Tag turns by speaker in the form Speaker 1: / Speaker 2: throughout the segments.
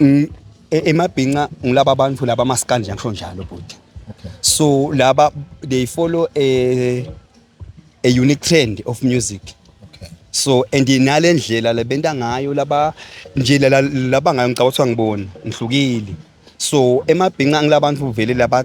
Speaker 1: Mm, e- emabhinca ngilaba bantu laba maskandi nje ngisho njalo bhuti Okay. so
Speaker 2: laba
Speaker 1: they follow a, a unique trend of music Okay. so
Speaker 2: and
Speaker 1: nale ndlela lebenta ngayo laba nje lala- laba ngayo ngicabanga ukuthi angiboni ngihlukile so emabhinca ngilabantu vele laba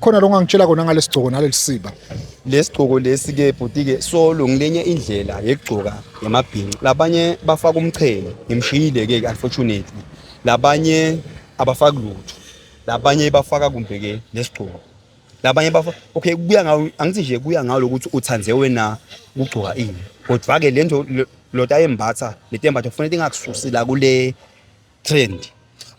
Speaker 1: Khona lo ngangitshela
Speaker 2: kona ngalesigcoko nalelisiba. Lesigcoko
Speaker 1: lesi ke bhuti ke solo ngilenye indlela yekugcoka yamabhinca. Labanye bafaka umchele, ngimshiyile ke unfortunately. Labanye abafaki lutho. Labanye bafaka kumbe ke lesigcoko. Labanye bafa okay kuya ngawo angithi nje kuya ngawo lokuthi uthande wena ukugcoka ini. Kodwa ke lento lota embatha letembatho kufanele ingakususi la kule trend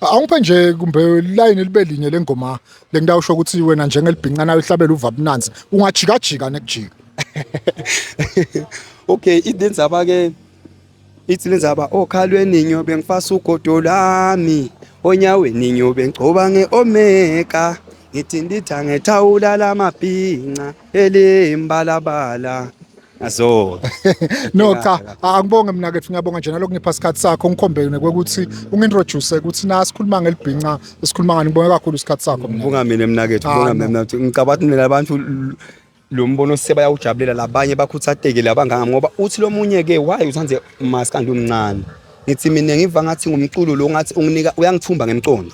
Speaker 1: awungiphe
Speaker 2: nje kumbe line libe linye lengoma lengida usho ukuthi wena njengelibhincana uhlabela uvabunanzi ungajikajika nekujika
Speaker 1: okay idenzaba ke ithi lenzaba okhalweni ngiyobe ngifasa ugodo lami onyaweni ngiyobe ngigcoba nge-omega ngithi nditha ngethawula lamabhinca elimbalabala azo no
Speaker 2: cha angibonge mina ke ngiyabonga nje nalokho ngipha isikhathi sakho ngikhombe nekwekuthi ungintroduce ukuthi na sikhuluma ngelibhinca sikhuluma ngani ngibonga kakhulu isikhathi sakho mina ngibonga mina mina ke ngibonga
Speaker 1: mina ngicabanga ukuthi mina abantu lo mbono sebayawujabulela labanye bakhuthateke labanganga ngoba uthi lo munye ke why uthande maskandi umncane ngithi mina ngiva ngathi ngumculo lo ngathi unginika uyangithumba ngemcondo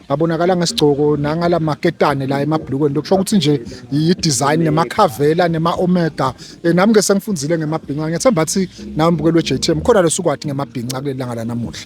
Speaker 2: abonakala ngesigcoko nangala maketane la emabhlukweni lokusho ukuthi nje yi-design nemakhavela nema-omega eh, nami ke sengifundile ngemabhinca ngiyethemba athi nawe mbukeli we-j t m khona losukwati ngemabhinca kuleli langa lanamuhla